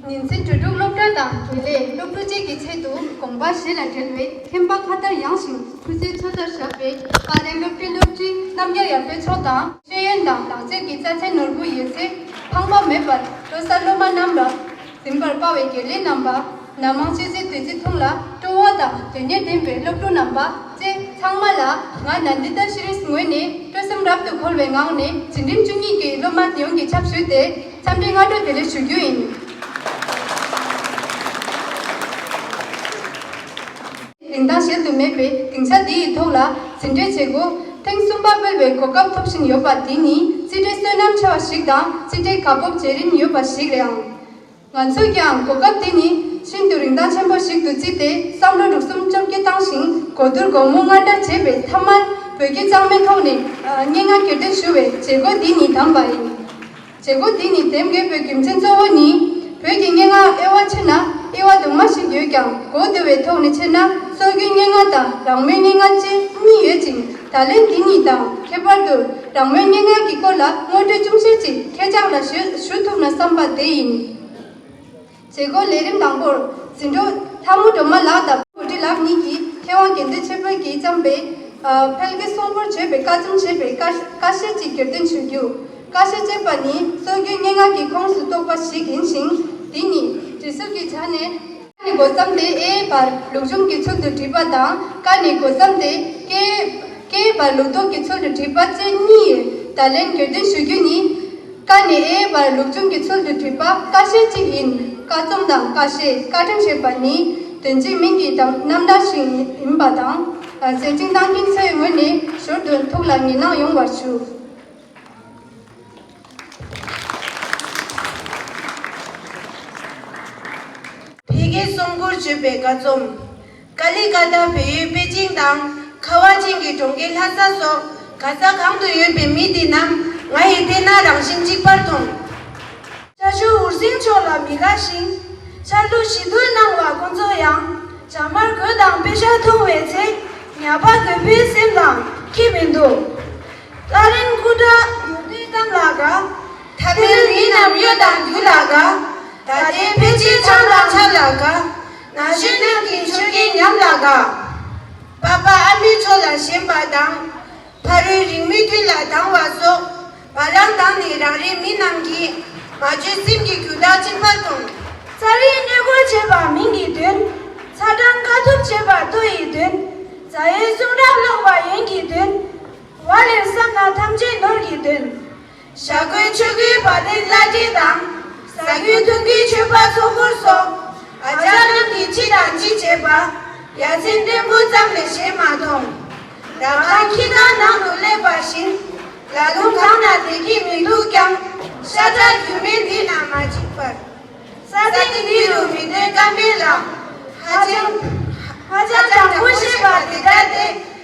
ཉིན་མཚན་དྲིལ་སྒྲོག་སློབ་གྲྭ་དང་དགེ་ལས་སློབ་ཕྲུག་བཅས་ཀྱི་ཆེད་དུ་དགོངས་པ་བཞེས་ལ་བྲེལ་བའི་ཁྱིམ་པ་ཁ་དར་ཡངས་ཤིང་ཕུད་སའི་མཚོ་ལྟར་བཞག་པའི་ཨ་རའི་སློབ་གྲྭའི་སློབ་ཕྲུག་རྣམ་རྒྱལ་ཡར་འཕེལ་ཚོགས་དང་ཤེས་ཡོན་དང་ལག་རྩལ་གྱི་རྩ་ཚན་ནོར་བུ་ཡོད་ཚད་ཕངས་པ་མེད་པར་སྤྲོད་ས་སློབ་མ་རྣམས་ལ། རིམ་པར་དཔའ་བའི་དགེ་ལེགས་རྣམ་པ། ནམ་མང་སྤྱོད་ཚེ་བདུད་རྩི་འཐུང་ལ་སྤྲོ་བ་དང་དོན་གཉེར་ལྡན་པའི་སློབ་ཕྲུག་རྣམ་པ་བཅས་ཚང་མ་ལ་ང་ན་འདི་ལྟར་ཤི་རེས་ངོས་ནས་སྤྲོ་སེམས་རབ་ཏུ་འཁོལ་བའི་ངང་ནས་བྱིན་རིམ་བཅུ་གཉིས་ཀྱི་སློབ་མ་དེ་ཡོངས་ཀྱི་ཕྱག་ཞུས་ཏེ་འཚམས་འདྲི་སྔ་དྲོ་དེ་རེ་ཞུ་རྒྱུ་ཡིན། རིན་ཐང་གཞལ་དུ་མེད་པའི་སྡིངས་ཆ་འདི་ཡི་ཐོག་ལ་ཟིན་བྲིས་བྱེད་སྒོ་ཐེངས་གསུམ་པ་སྤེལ་བའི་གོ་སྐབས་ཐོབ་བཞིན་ཡོད་པ་འདི་ནི་རྩིས་འབྲས་བསོད་ནམས་ཆེ་བ་ཞིག་དང་རྩིས་འབྲས་དགའ་སྤོབས་བྱེད་རིན་ཡོད་པ་ཞིག་རེད་ཨང། ང་ཚོས་ཀྱང་གོ་སྐབས་འདི་ནི་ཤིན་ཏུ་རིན་ཐང་ཆེན་པོ་ཞིག་ཏུ་བརྩིས་ཏེ་བསམ་བློ་འགྲོ་གསུམ་བཅོ་བརྒྱད་བཏང་ཞིང་གོ་བསྡུར་དགོང་མོ་སྔ་དྲགས་བྱས་པའི་མཐའ་མར་བོད་སྐད་གཙང་མའི་ཐོག་ནས་སྙན་ངག་གྱེར་འདོན་ཞུ་བའི་བྱེད་སྒོ་འདི་ཉིད་དམ་པ་ཡིན། བྱེད་སྒོ་འདི་ནི་དེབ་འགེལ་བོད་ཀྱི་མཚན་གཙོ་བོ་ནི། བོད་ཀྱི་སྙན་ངག་དབྱེ་བ་ཕྱེ་ན་དབྱེ་བ་དུ་མ་ཞིག་ཡོད་ཀྱང་གོ་བདེ་བའི་ཐོག་ནས་ཕྱེ་ན་སྲོལ་རྒྱུན་སྙན་ངག་དང་རང་མོས་སྙན་ངག་ཅེས་གཉིས་ཡོད་ཅིང་ད་ལན་འདི་གཉིས་དང་ཁྱད་པར་དུ་རང་མོས་སྙན་ངག་གི་སྐོར་ལ་དངོས་འབྲེལ་ཅུང་ཞིག་ཅིག་ཁྱེད་ཅག་ལ་ཞུ་ཐུབ་ན་བསམ་པ་དེ་ཡིན། མཛད་སྒོའི་ལས་རིམ་དང་པོར། འཛིན་གྲོགས་ལྷ་མོ་སྒྲོལ་མ་ལགས་དང་བུ་ཁྲི་ལགས་གཉིས་ཀྱིས་མཁས་དབང་དགེ་འདུན་ཆོས་འཕེལ་གྱིས་བརྩམས་པའི། འཕེལ་གྱི་སྲུང་འཁོར་བརྗོད་པའི་བཀའ་རྩོམ་ཞེས་པའི་བཀའ་བཞེས་ཅིག་གྱེར་འདོན་བྱེད་རྒྱུ། བཀའ་བཞེས་ཅེས་པ་ནི་སྲོལ་རྒྱུན་སྙན་ངག་གི་ཁོངས་སུ་གཏོགས་པ་ཞིག་ཡིན་ཞིང། དེ་ཉིད། བྲིས་གསར་གྱི་ཆ་ནས། བཀའ་ནི་སྒོ་བརྩམས་ཏེ་ཨེ་ཡེ་བར་ལུགས་འབྱུང་གི་ཚུལ་དུ་བྲིས་པ་དང། བཀའ་ནི་སྒོ་བརྩམས་ཏེ་ཀྱེ་ཡེ་བར་ལུགས་ལྡོག་གི་ཚུལ་དུ་བྲིས་པ་བཅས་གཉིས། བརྡ་ལན་གྱེར་འདོན་ཞུ་རྒྱུ་ནི། བཀའ་ནི་ཨེ་ཡི་བར་ལུགས་འབྱུང་གི་ཚུལ་དུ་བྲིས་པ་ཀ་ཤེད་གཅིག་ཡིན། བཀའ་རྩོམ་དང་བཀའ་བཤད་བཀའ་དྲིན་ཞེས་པ་ནི་དོན་གཅིག་མིང་གི་རྣམ་གྲངས་ཤིག་ཡིན་པ་དང། ཟས་སྦྱིན་བཏང་གིན་ཚེ་ངོས་ནས་ཞོར་དུ་ཐུགས་ལ་ངེས་སྣང་ཡོང་བར་ཞུ། ཕལ་སྐད་གསུམ་བསྐུར་བྱེད་པའི་བཀའ་རྩོམ། ཀ་ལི་ཀ་ཐ་བལ་ཡུལ་པེ་ཅིང་དང་ཁ་བ་ཅན་གྱི་གྲོང་ཁྱེར་ལྷ་ས་སོགས་ག་ས་གང་དུ་ཡོད་པའི་མི་དེ་རྣམས་ང་ཡི་སྟེང་ན་རང་བཞིན་གཅིག་པར་མཐོང། བྱ་ཞུ་འུར་ཟིང་ཕྱོགས་ལ་མི་དགའ་ཞིང། འཆར་གླུ་བཞི་རྒོད་སྣང་བ་དཀོན་མཚོ་ཡང། བྱ་དམར་རྒོད་དང་དཔེ་ཞྭ་མཐོང་བའི་ཚེ། ཉྭ་པ་རྒོད་པོའི་སེམས་ལ་ཁྱི་མི་འདུག། ཀླ་རིན་སྐུ་དྲག་ངོ་བསྟོད་གཏམ་ལ་དགའ། ཐ་བལ་མི་རྣམས་གཡོ་དང་རྒྱུ་ལ་དགའ། ད་ལྟའི་ཕལ་ཆེར་ཆང་དང་ཆར་ལ་དགའ། ན་གཞོན་རྣམས་ཀྱི་མཆོད་རྒྱལ་ཉམས་ལ་དགའ། བ་པ་ཨ་མའི་མཆོག་ལ་ཞེན་པར་སྡང། ཕ་རོལ་རིང་མོའི་དུས་ལ་སྡང་བ་སོགས། བ་ལང་དང་ནི་རང་རེའི་མི་རྣམས་ཀྱིས། མ་བཅོས་སེམས་ཀྱི་རྒྱུ་དག་བཅིང་བར་དགོངས། རྩ་བའི་གནས་སྐོར་བྱེད་པ་མིང་གི་དོན། ཚ་གྲང་དཀའ་ཐུབ་བྱེད་པ་ལྟོ་ཡི་དོན། རྫ་ཡའི་གསུང་རབ་ཀློག་པ་ཡན་གྱི་དོན། བ་ལེར་བསམ་ན་ཐམས་ཅད་ནོར་གྱི་དོན། ཞྭ་སྒོའི་ཆོས་སྒོའི་བར་ནི་བླ་བྲེ་དང། ཟ་རྒྱུའི་འཐུང་རྒྱུའི་མཆོད་པ་ཚོགས་འཁོར་སོགས། ཨ་ཅག་རྣམས་ཀྱིས་ཅི་དང་ཅི་བྱེད་པ། ཡ་མཚན་སྐྲན་འབུ་ཙམ་ལས་བྱེད་མ་མཐོང། ཟླ་ཁང་ཁྱི་སྒང་ནང་དུ་སླེབས་པ་བཞིན། ལ་ལུང་གང་ན་དེ་སྐྱིད་མི་འདུག་ཀྱང། ཤ་ཚ་རྒྱུ་མེད་འདི་ན་མ་འཇིགས་པར། ས་སྟེང་འདི་རུ་མི་སྡོད་ཀ་མེད་ལ། ཧ་ཅང་ཅང་ཀྲང་ཀོ་ཤེས་པ་དེ་འདྲ་དེ།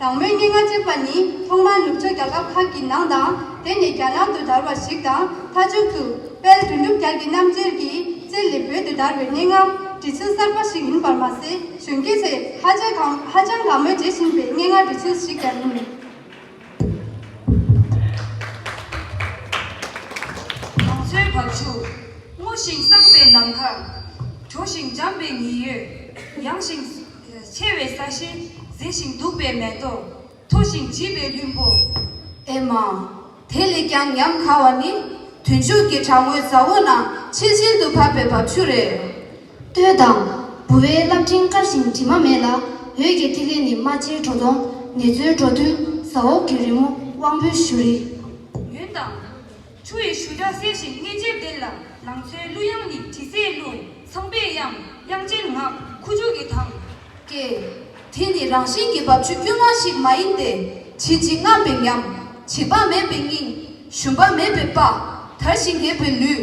དང་མོའི་སྙན་ངག་ཅེས་པ་ནི་ཐོག་མར་ནུབ་ཕྱོགས་རྒྱལ་ཁབ་ཁག་གི་ནང་དང་དེ་ནས་རྒྱ་ནང་དུ་དར་བ་ཞིག་དང་མཐའ་མཇུག་ཏུ་དཔལ་དོན་གྲུབ་རྒྱལ་གྱི་རྣམ་རྒྱལ་གྱི་རྩལ་ལས་བོད་དུ་དར་བའི་སྙན་ངག་འབྲི་ཚུལ་གསར་པ་ཞིག་ཡིན་པར་མ་ཟད་གཞོན་སྐྱེས་ཚོས་ཧ་ཅང་གང་ཧ་ཅང་གང་མོས་བརྗེད་བཞིན་པའི་སྙན་ངག་འབྲི་ཚུལ་ཞིག་ཀྱང་ཡིན། ལང་ཚོའི་བབ་ཆུ་སྔོ་ཞིང་བསངས་པའི་ནམ་མཁར། དྲོ་ཞིང་འཇམ་པའི་ཉི་ཡོས་ཡངས་ཤིང། མཆེ་བའི་ས་གཞི་གཟི་ཞིང་སྡུག་པའི་མེ་ཏོག། མཐུག་ཞིང་བརྗིད་པའི་ལྷུན་པོ། ཨེ་མ། དེ་ལས་ཀྱང་ཉམས་ཁ་བ་ནི། དུས་མཇུག་གི་བྲག་ངོས་ཟ་འོག་ན་ཆིལ་ཆིལ་དུ་བབས་པའི་འབབ་ཆུ་རེད། ལྟོས་དང། ལྦུ་བའི་རླབས་ཕྲེང་དཀར་ཞིང་དྲི་མ་མེད་ལ། འོད་ཀྱི་ཐིག་ལེ་ནི་རྨ་བྱའི་བྲོ་བརྡུང། ནེ་ཙོའི་བྲོ་བརྡུང། ཟ་འོག་གི་རི་མོ་དབང་པོའི་བཞུར་རི། ཡུན་དང། ཆུ་ཡི་བཞུར་སྒྲ་གསལ་ཞིང་མངལ་འཇེབས་ལྡན་ལ་ལང་ཚོའི་གླུ་དབྱངས་ནི་དྲི་ཟའི་གླུ། ཚངས་པའི་དབྱངས་དབྱངས་ཅན་ངག་ཁུ་བྱུག་གི་དང། སྐད། དེ་ནི་རང་བཞིན་གྱི་འབབ་ཆུ་དཀྱུས་མ་ཞིག་མ་ཡིན་ཏེ། བྱིལ་བྱིལ་རྔམས་པའི་ཉམས། བྱིས་པ་མེད་པའི་སྙིང། ཞུམ་པ་མེད་པའི་པགས། དར་ཞིང་རྒྱས་པའི་ལུས།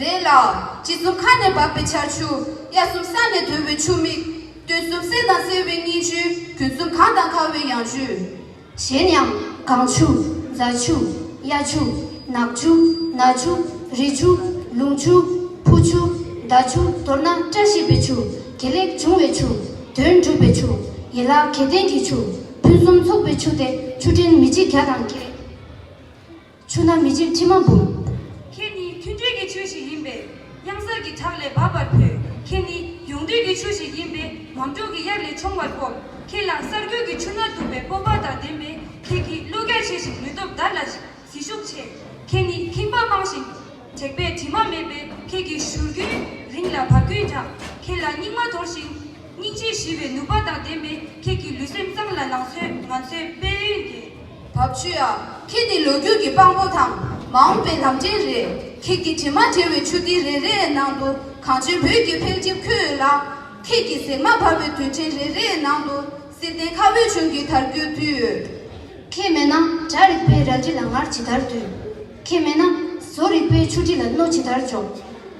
རེད་ལ། སྤྱི་གཙུག་ཁ་ནས་བབས་པའི་ཆར་ཆུ། དབྱར་གསུམ་ས་ནས་དོལ་བའི་ཆུ་མིག། སྟོན་གསུམ་གསེར་དང་སེར་བའི་སྙིང་ཆུ། དུས་གསུམ་གངས་དང་ཁ་བའི་ཡང་ཆུ། གཞན་ཡང། གངས་ཆུ། རྫ་ཆུ། གཡའ་ཆུ། ནགས་ཆུ། ན་ཆུ། རི་ཆུ། ལུང་ཆུ། ཕུ་ཆུ། མདའ་ཆུ། མདོར་ན་བཀྲ་ཤིས་པའི་ཆུ། དགེ་ལེགས་འབྱུང་བའི་ཆུ། དོན་འགྲུབ་པའི་ཆུ། ཡན་ལག་གྱེས་བརྟན་གྱི་ཆུ། ཕུན་སུམ་ཚོགས་པའི་ཆུ་སྟེ་ཆུ་ཕྲན་མི་ཆེ་བརྒྱ་དང་བརྒྱད། ཆུ་ནག་མི་འཇིགས་ཁྲི་མ་འབུམ། ཁྱེད་ནི་མཐུན་འབྲེལ་གྱི་ཆུ་ཞིག་ཡིན་པས་གཡང་གཟར་གྱི་བྲག་ལས་འབབ་པར་ཕུད། ཁྱེད་ནི་ཡོངས་འདུས་ཀྱི་ཆུ་ཞིག་ཡིན་པས་འམ་ཀྲུག་གི་དབྱར་ལས་མཆོང་བར་སྤོབས། ཁྱེད་ལ་གསར་འགྱུར་གྱི་ཆུ་སྣ་དུ་བའི་སྤོབས་པ་དང་ལྡན་པས་ཁྱེད་ཀྱིས་གླུ་ག་ཆེ་ཞིང་ལུས་སྟོབས་དར་ལ་ཟིལ་ཤུགས་ཆེ། ཁྱེད་ནི་ཁེངས་པ་མང་ཞིང་དྲེགས་པའི་དྲི་མ་མེད་པས་ཁྱེད་ཀྱི་བཞུར་རྒྱུན་རིང་ལ་བབ་རྒྱུན་དྲག། ཁྱེད་ལ་སྙིགས་མ་དོར་ཞིང་སྙིང་རྗེ་ཞི་བའི་ནུས་པ་དང་ལྡན་པས་ཁྱེད་ཀྱི་ལུས་སེམས་གཙང་ལ་ལང་ཚོས་ང་ཚོའི་དཔལ་ཡོན་རྒྱས། བབ་ཆུ་ཡ། ཁྱེད་འདི་ལོ་རྒྱུས་ཀྱི་དཔང་པོ་དང་མ་འོངས་པའི་ལམ་འཕྲིན་རེད། ཁྱེད་ཀྱི་དྲི་མ་བྲལ་བའི་ཆུ་ཐིགས་རེ་རེའི་ནང་དུ་གངས་ཅན་བོད་ཀྱི་འཕེལ་རྒྱས་འཁྱུད་ཡོད་ལ། ཁྱེད་ཀྱི་ཟེགས་མ་འབར་བའི་དུས་ཆེན་རེ་རེའི་ནང་དུ་བསིལ་ལྡན་མཁའ་དབུས་ཆུང་གི་དར་རྒུད་བསྡུས་ཡོད། ཁྱེད་མེད་ན་བྲག་རིག་པའི་རལ་གྲི་ལ་ངར་ཇི་ལྟར་འདུས། ཁྱེད་མེད་ན་བཟོ་རིག་པའི་ཆུ་གྲི་ལ་རྣོ་ཇི་ལྟར་འཇོག།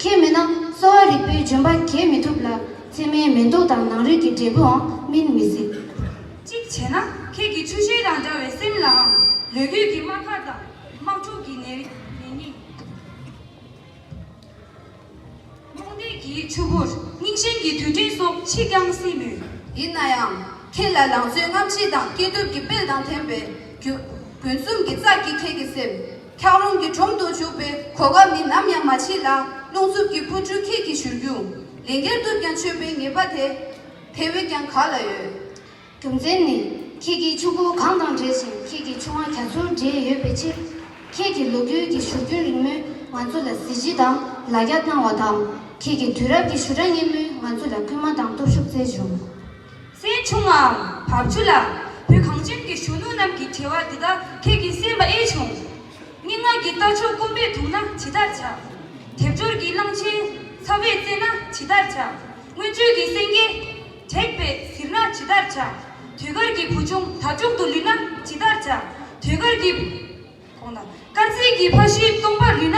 ཁྱེད་མེད་ན་གསོ་བ་རིག་པའི་ལྗོན་པ་གྱེས་མི་ཐུབ་ལ་ཚེར་མའི་མེ་མདོག་དང་ནང་རིག་གི་འབྲས་བུའང་སྨིན་མི་སྲིད། གཅིག་བྱས་ན་ཁྱེད་ཀྱི་ཆུ་ཤེལ་དང་འདྲ་བའི་སེམས་ལའང་ལོས་རྒྱུས་ཀྱི་དམག་སྒར་དང་དམག་འཁྲུག་གི་ནད་རྙིང། རྨོངས་དད་ཀྱི་ཆུ་བུར་རྙིང་ཞེན་གྱི་དུད་སྤྲིན་སོགས་མཆིས་ཀྱང་སྲིད་མོད། ཡིན་ན་ཡང་ཁྱེད་ལ་ལང་ཚོའི་རྔམ་བརྗིད་དང་སྐྱེས་སྟོབས་ཀྱི་དཔལ་དང་ལྡན་པའི་རྒྱུ། དགུན་གསུམ་གྱི་ཙག་གིས་ཁྱེད་ཀྱི་སེམས། འཁྱགས་རོམ་གྱི་དྲོམ་དུ་བྱུག་པའི་གོ་སྐབས་ནི་ནམ་ཡང་མ་མཆིས་ལ་རླུང་འཚུབ་ཀྱི་འཕུར་འཕྲུལ་ཁྱེད་ཀྱི་བཞུར་རྒྱུན་ལན་བརྒྱར་གཏུབ་ཀྱང་ཆོད་པའི་ངེས་པ་དེ། དེ་བས་ཀྱང་ག་ལ་ཡོད། རྒྱུ་མཚན་ནི། ཁྱེད་ཀྱིས་ཕྱུག་པོ་གང་དང་འབྲེལ་ཞིང་ཁྱེད་ཀྱི་ཆུང་མ་རྒྱ་མཚོར་འབྲེལ་ཡོད་པའི་ཕྱིར། ཁྱེད་ཀྱི་ལོ་རྒྱུས་ཀྱི་བཞུར་རྒྱུན་རིང་མོས་ང་ཚོ་ལ་གཟི་བརྗིད་དང་ལ་རྒྱ་བཏང་བ་དང། ཁྱེད་ཀྱི་དུས་རབས་ཀྱི་བཞུར་སྒྲ་སྙན་མོས་ང་ཚོ་ལ་སྐུལ་མ་དང་སྟོབས་ཤུགས་བསྩལ་བྱུང། སའི་ཆུང་མའམ་བབ་ཆུ་ལ། བོད་གངས་ཅན་གྱི་གཞོན་ནུ་རྣམས་ཀྱི་བྲེལ་བ་འདི་དག་ཁྱེད་ཀྱིས་སེལ་མ་ཨེ་བྱུང། སྙན་ངག་གི་རྟ་མཆོག་སྐོམ་པས་དུངས་ན་ཇི་ལྟར་བྱ། དལ་འབྱོར་གྱི་གླང་ཆེན་ཚ་བས་གཙེས་ན་ཇི་ལྟར་བྱ། མངོན་སྤྱོད་ཀྱི་སེང་གེ་དྲེགས་པས་གཟིར་ན་ཇི་ལྟར་བྱ། དུས་དཀར་གྱི་བུ་ཆུང་དག་དྲུག་ཏུ་ལུས་ན་ཇི་ལྟར་བྱ། དུས་དཀར་གྱི། དཀར་མཛེས་ཀྱི་ཕ་གཞིས་སྟོང་པར་ལུས་ན།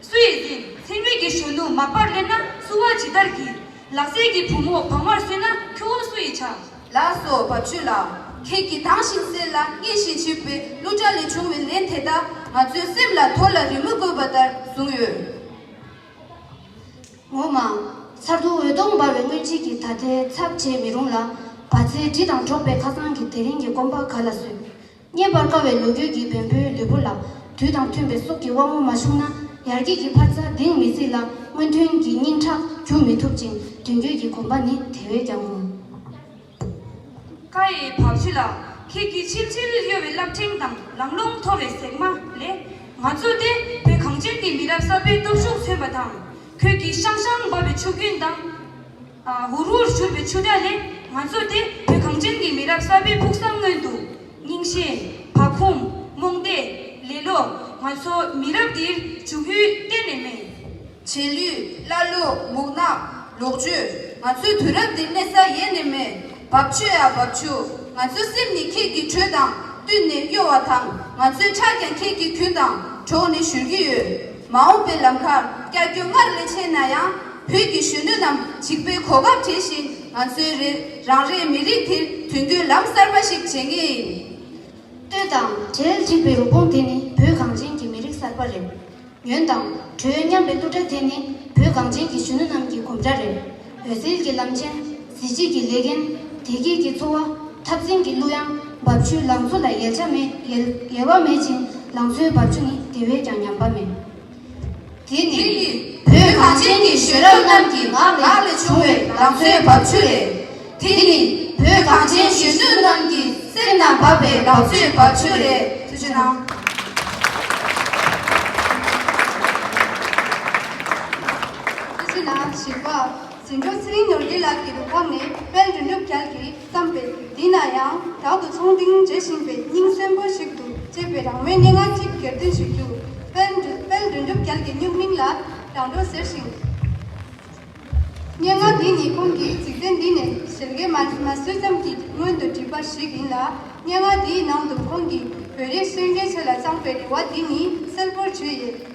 སུ་ཡི་དེ་མཚན་མོད་ཀྱི་གཞོན་ནུ་མ་པར་སླེབས་ན་བསུ་བ་ཇི་ལྟར་བགྱི། ལག་ཟས་ཀྱི་བུ་མོ་བག་མར་གསོས་ན་ཁྱོ་བོ་སུ་ཡིས་བྱ། ལགས་སོ་བབ་ཆོས་ལགས་ཁྱེད་ཀྱིས་དྭངས་ཤིང་གསལ་ལ་མངེས་ཤིང་ལྕི་བའི་གླུ་སྒྲ་ལས་བྱུང་བའི་ལན་དེ་དག་ང་ཚོའི་སེམས་ལ་དོ་ལ་རི་མོ་བརྐོས་པ་ལྟར་བཟུང་ཡོད། ངོ་མ། མཚར་སྡུག་འོད་སྟོང་འབར་བའི་སྔོན་རྗེས་ཀྱི་ད་ལྟའི་ཚབ་བྱེད་མི་རུང་ལ། བ་ཚྭའི་དྲི་དང་འགྲོགས་པའི་ཁ་སང་གི་དེ་རིང་གི་སྐོམ་པ་ག་ལ་བཟོད། རྙེད་པར་དཀའ་བའི་ལོ་རྒྱུས་ཀྱི་བེམ་པོའི་ལུས་པོ་ལ། དུས་དང་མཐུན་པའི་སྲོག་གི་དབང་མོ་མ་ཕྱུང་ན། ཡར་རྒྱས་ཀྱི་འཕར་རྩ་གདིང་མི་སྲིད་ལ་སྔོན་ཐོན་གྱི་སྙིང་ཁྲག་རྒྱུ་མི་ཐུབ་ཅིང་མདུན་སྐྱོད་ཀྱི་གོམ་པ་ནི་དེ་བས་ཀྱང་རུང། ཀ་ཡེ་བག་ཕྱི་ལགས་ཁྱེད་ཀྱིས་ཕྱིན་ཆད་གཡོ་བའི་རླབས་ཕྲེང་དང་ལང་ཀློང་འཐོར་བའི་ཟེགས་མ་ལས། ང་ཚོ་སྟེ་བོད་གངས་ཅན་གྱི་མི་རབས་གསར་པའི་སྟོབས་ཤུགས་མཚོན་པ་དང། ཁྱོད་ཀྱིས་ཤང་ཤང་འབབ་པའི་ཆུ་རྒྱུན་དང། ཧུར་ཧུར་བཞུར་བའི་ཆུ་སྒྲ་ལས་ང་ཚོ་དེ་བོད་གངས་ཅན་གྱི་མི་རབས་གསར་པའི་ཕུགས་བསམ་མངོན་འདུག་རྙིང་ཞེན། བག་འཁུམས། རྨོངས་དད། ལེ་ལོ། ང་ཚོ་མི་རབས་འདིར་འཇུག་ཡུལ་གཏན་ནས་མེད། བྱེད་ལུས། ཀླ་ཀློ། མུག་ནག། ལོག་སྤྱོད། ང་ཚོའི་དུས་རབས་འདིར་གནས་ས་ཡེ་ནས་མེད། བབ་ཆུ་ཡ་བབ་ཆུ། ང་ཚོའི་སེམས་ནི་ཁྱེད་ཀྱི་དྲོད་དང་བསྟུན་ནས་གཡོ་བ་དང་ང་ཚོའི་ཁྲག་ཀྱང་ཁྱེད་ཀྱི་གུན་དང་གྲོགས་ནས་བཞུར་གྱི་ཡོད། མ་འོངས་པའི་ལམ་ཁ་བསྐྱར་སྐྱོད་སྔར་ལས་ཆེ་ན་ཡང་བོད་ཀྱི་གཞོན་ནུ་རྣམས་འཇིགས་པའི་གོ་སྐབས་བྲལ་ཞིང་ང་ཚོའི་རེ་རང་རེའི་མི་རིགས་དེ་དོན་འཁྱོལ་ལམ་གསར་པ་ཞིག་བྱེད་ངེས་ཡིན། ལྟོས་དང། གྲལ་འགྲིག་པའི་རུ་དཔུང་དེ་ནི་བོད་གངས་ཅན་གྱི་མི་རིགས་གསར་པ་རེད། ཉོན་དང། གྲོལ་སྙམ་པའི་གླུ་སྒྲ་དེ་ནི་བོད་གངས་ཅན་གྱི་གཞོན་ནུ་རྣམས་ཀྱི་གོམ་སྒྲ་རེད། འོད་ཟེར་གྱི་ལམ་ཆེན། གཟི་བརྗིད་ཀྱི་ལེ་བརྒན། བདེ་སྐྱིད་ཀྱི་འཚོ་བ། འཐབ་འཛིང་གི་གླུ་དབྱངས། འབབ་ཆུའི་ལང་ཚོ་ལ་ཡལ་ཆ་མེད་ཡལ་ཡལ་བ་མེད་ཅིང་ལང་ཚོའི་འབབ་ཆུ་ནི་དེ་བས་ཀྱང་ཉམས་པ་མེད། དེ་ནི་བོད་གངས་ཅན་གྱི་གཞོན་རབས་རྣམས་ཀྱི་ངག་ལག་ལས་བྱུང་བའི་ལང་ཚོའི་འབབ་ཆུ་རེད། དེ་ནི་བོད་གངས་ཅན་གཞོན་ནུ་རྣམས་ཀྱི་སེམས་ན་འབབ་པའི་ལང་ཚོའི་འབབ་ཆུ་རེད། ཐུགས་རྗེ་གནང། དེ་བཞིན་ན་བཞི་པ། ཟིན་འགྲོ་ཚེ་རིང་ནོར་རྒྱས་ལགས་ཀྱི་རུ་ཁག་ནས་དཔལ་འབྲུ་ནུབ་རྒྱལ་གྱིས་བརྩམས་པའི་འདི་ན་ཡང་དག་ཏུ་ཚོང་འདིང་བྱེད་བཞིན་པའི་སྙིང་གསོན་པོ་ཞིག་ཏུ་བཅས་པའི་རང་མོས་སྙན་ངག་ཅིག་སྒེར་འདོན་ཞུ་རྒྱུ། དཔལ་འབྲུ་དཔལ་འབྲུ་ནུབ་རྒྱལ་གྱི་སྨྱུག་མིང་ལ་རང་འགྲོ་ཟེར་ཞིང། སྙན་ངག་འདི་ནི་ཁོང་གིས་འཇིག་རྟེན་འདི་ནས་ཞལ་རྒས་མ་བསུས་ཙམ་གྱི་སྔོན་དུ་བྲིས་པ་ཞིག་ཡིན་ལ། སྙན་ངག་འདིའི་ནང་དུ་ཁོང་གིས་བོད་རིགས་གསོན་རྒྱལ་ཆེ་ལ་བཅངས་པའི་རེ་བ་འདི་ནི་གསལ་པོར་བརྗོད་ཡོད།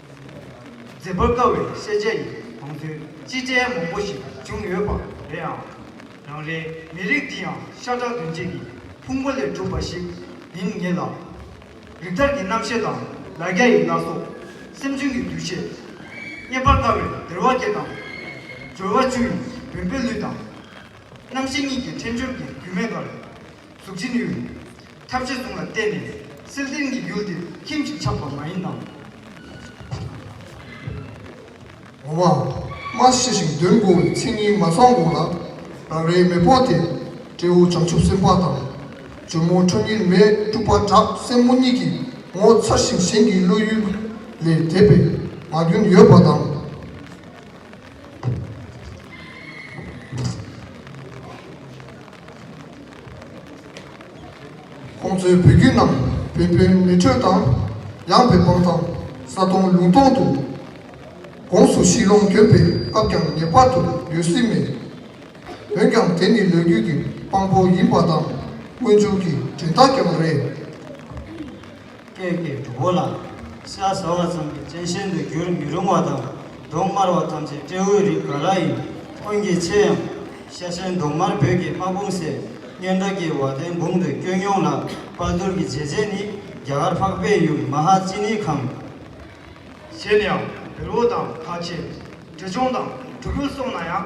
འཛེམ་པར་དཀའ་བའི་བཤད་བྱ་ཡི་གོང་ཚུལ་སྤྱི་ཕྲན་མང་པོ་ཞིག་བྱུང་ཡོད་པ་རེད་ཨང། རང་རེའི་མི་རིགས་འདི་ཡང་ཤ་ཁྲག་དུན་རྗེས་ཀྱི་ཕུང་པོ་ལས་གྲུབ་པ་ཞིག་ཡིན་ངེས་ལ། རིགས་ཐར་གྱི་རྣམ་ཤེས་དང་ལ་རྒྱ་ཡི་བླ་སྲོག། སེམས་ཅན་གྱི་འདུ་ཤེས། རྙེད་པར་དཀའ་བའི་བདེར་བ་བརྒྱད་དང། སྦྱོར་བ་བཅུ་ཡི་བེམ་པོའི་ལུས་དང། རྣམ་ཤེས་གཉིས་ཀྱི་ཕྲེང་སྦྱོར་གྱི་རྒྱུན་མེད་ཁར། གཟུགས་ཅི་ནུས་རེད། ཐབས་ཇེ་ཐུང་ལ་བརྟེན་ནས་སིལ་སྡེར་གྱི་ཡུལ་འདིར་ཁྱིམ་གཅིག་ཆགས་པ་མ་ཡིན་ནམ། འོ་མ། མ་ཤི་ཞིང་བདུན་འགོར་བའི་ཚེ་ཉིན་མ་ཚང་གོང་ལ། རང་རེའི་མེས་པོ་དེས་སྤྲེའུ་བྱང་ཆུབ་སེམས་དཔའ་དང། ཇོ་མོ་ཁྲོ་གཉེར་མས་སྤྲུལ་པ་བྲག་སྲིན་མོ་གཉིས་ཀྱི་ངོ་མཚར་ཞིང་གཞན་གྱི་བློ་ཡུལ་ལས་དད་པའི་ངག་རྒྱུན་ཡོད་པ་དང། ཁོང་ཚོའི་བུ་རྒྱུད་རྣམས་བན་བོན་མི་འཕྲོད་དང་ཡངས་པའི་སྤང་ཐང་ས་སྟོང་ལུང་སྟོང་དུ་དགོངས་སུ་ཤིང་ལོང་གྱོན་པའི་སྐབས་ཀྱང་ངེས་པར་དུ་ཡོད་སྲིད་མོད། འོན་ཀྱང་དེ་ནི་ལོ་རྒྱུས་ཀྱི་དཔང་པོ་ཡིན་པ་དང་སྔོན་བྱུང་གི་དྲིན་ཐག་ཀྱང་རེད། སྐད་ཀྱི་གྲོགས་པོ་ལ། ཤ་ཟ་བ་ཙམ་གྱིས་སྤྱན་ཤེལ་དུ་འགྱུར་མི་རུང་བ་དང་གདོང་དམར་བ་ཐམས་ཅད་སྤྲེའུའི་རིགས་ག་ལ་ཡིན་ཀུན་གྱིས་ཆེ་ཡང། ཤ་ཆེན་གདོང་དམར་བོད་ཀྱི་དམག་དཔུང་སྲས་སྨྱོན་བྲག་སྐྱིལ་བ་དན་འབུམ་དུ་བསྐྱོད་མྱོང་ལ་དཔའ་དུར་གྱི་རྗེས་བྱེད་ནི་རྒྱ་གར་འཕགས་པའི་ཡུལ་མ་ཧཱ་ཙི་ནི་ཁམས། གཞན་ཡང་བེར་བོ་དང་དག་ཆེན། གྲི་ཆུང་དང་གྲུ་གུ་སོང་ན་ཡང།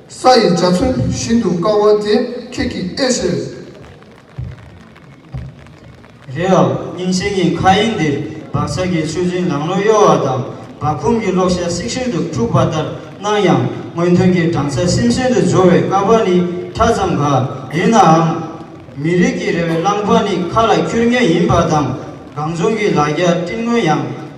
ས་ཡི་འཇའ་ཚོན་བཞིན་དུ་དཀར་བ་དེ་ཁྱེད་ཀྱི་ཨེ་ཟེར། རེད་ཨང་སྙིང་ཆེན་གྱི་མཁའ་དབྱིངས་འདིར་བག་ཆགས་ཀྱི་ཆུ་རྫིང་ལང་ལོང་གཡོ་བ་དང་བག་འཁུམས་ཀྱི་གློག་ཞགས་སིག་ཤིག་ཏུ་འཁྲུགས་པ་ལྟར་སྣང་ཡང་སྔོན་ཐོན་གྱི་སྦྲང་ཆར་སིམ་སིམ་དུ་འཇོ་བའི་ཀ་བ་ནི་ཕྲ་ཙམ་འགའ་ཡིན་ནའང། མི་རིགས་ཀྱི་རེ་བའི་བླངས་བག་ནི་མཁའ་ལ་འཁྱུར་ངེས་ཡིན་པ་དང་གངས་ལྗོངས་ཀྱི་ལ་རྒྱ་སྤྲིན་སྔོན་ཡང་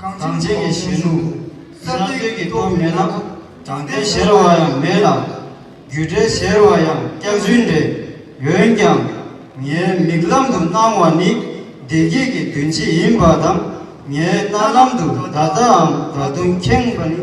གངས་ཅན་གྱི་གཞོན་ནུ་གསར་གཏོད་ཀྱི་སྟོབས་མེད་ན་དྲང་བདེན་གཞལ་བ་ཡང་མེད་ལ། རྒྱུ་འབྲས་གཞལ་བ་ཡང་སྐྱག་རྫུན་རེད། འོན་ཀྱང། ངའི་མིག་ལམ་དུ་སྣང་བ་ནི་བདེ་སྐྱིད་ཀྱི་དོན་ཅི་ཡིན་པ་དང་ངའི་རྣ་ལམ་དུ་བརྡ་རྩའམ་བརྡ་དོན་ཁེངས་པ་ནི།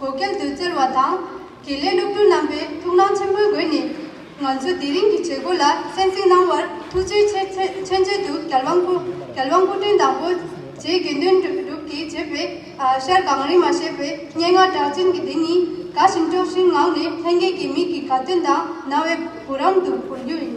གོ་སྐལ་དུ་བསྩལ་བ་དང། དགེ་ལས་སློབ་ཕྲུག་རྣམ་པའི་ཐུགས་སྣང་ཆེན་པོའི་སྒོས་ནས། ང་ཚོ་དེ་རིང་གི་བྱེད་སྒོ་ལ་གསན་གཟིགས་གནང་བར་ཐུགས་རྗེའི་མཆན་འགྲེལ་དུ་རྒྱལ་དབང་སྐུ་ཕྲེང་དང་པོ་རྗེའི་དགེ་འདུན་གྲུབ་ཀྱིས་བྱས་པའི་ཤར་གངས་རི་མ་ཞེས་པའི་སྙན་ངག་གྲགས་ཅན་གྱི་དེ་ཉིད་དགའ་ཞིང་སྤྲོ་བཞིན་ངང་ནས་ལྷན་རྒྱས་ཀྱི་མིག་གི་དགའ་སྟོན་དང་རྣ་བའི་བུ་རམ་དུ་བོར་རྒྱུ་ཡིན།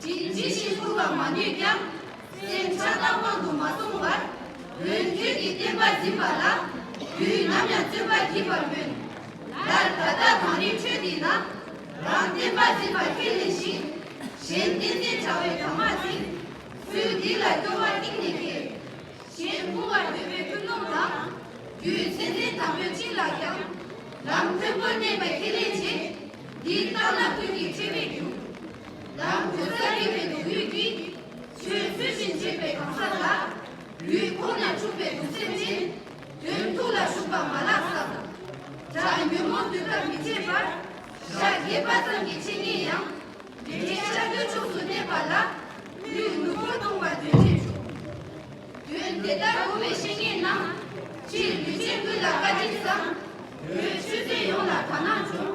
ཅི་བཞིན་བསྐུར་བར་མ་ནུས་ཀྱང། སེམས་འཆར་ཀ་དབང་དུ་མ་སོང་བར། དོན་ཁྱོད་ཀྱི་བསྟན་པ་འཛིན་པ་ལ། དུས་ནམ་ཡང་བརྩོན་པ་བགྱིད་པར་སྨོན། ལར་ད་ལྟར་མ་རིག་ཆོས་འདི་ན། རང་བསྟན་པ་འཛིན་པ་ཁས་ལེན་ཞིང། གཞན་བསྟན་འཛིན་བྱ་བའི་དམ་མ་ཟིན། ཚུལ་འདི་ལ་སྐྱོ་བ་གཏིང་ནས་སྐྱེས། གཞན་བསྐུར་བར་འདོད་པའི་ཀུན་སློང་དང། རྒྱུའི་མཚན་ལྡན་དམ་པོའི་བྱིན་རླབས་ཀྱང། ལམ་མཐོན་པོར་གནས་པའི་ཁས་ལེན་བྱེད། འདི་ལྟར་ན་ཀུན་གྱི་ཁྲེལ་མེད་རྒྱུ། ལམ་དུ་ས་རིས་པའི་སྡུག་ཡུས་ཀྱིས། ཆོས་ཚུལ་བཞིན་བྱེད་པའི་གང་ཟག་ལ། ཡུལ་འཁོར་ན་འཁྲུགས་པའི་གདུག་སེམས་ཅན། དོན་ཐུགས་ལ་ཞུགས་པ་མ་ལགས་སམ། དགྲ་ཉོན་མོངས་དུས་ཐག་མི་ཆད་པར། ཞག་བརྒྱད་པ་ཙམ་གྱི་འཆད་ཉན་ཡང། དགེ་རྒན་ཤར་སྒོའི་ཕྱོགས་སུ་གནས་པ་ལ། ལུས་ངུ་ཕོ་བཏུང་བ་དོན་ཆེན་བྱུང། དོན་དེ་ལྟར་གོ་བའི་བཤེས་གཉེན་རྣམས། སྤྱིར་ལུས་ཅན་ཀུན་ལ་བཀའ་དྲིན་བསམ། བོད་ཆོས་ཚན་ཡོངས་ལ་དག་སྣང་འབྱུང།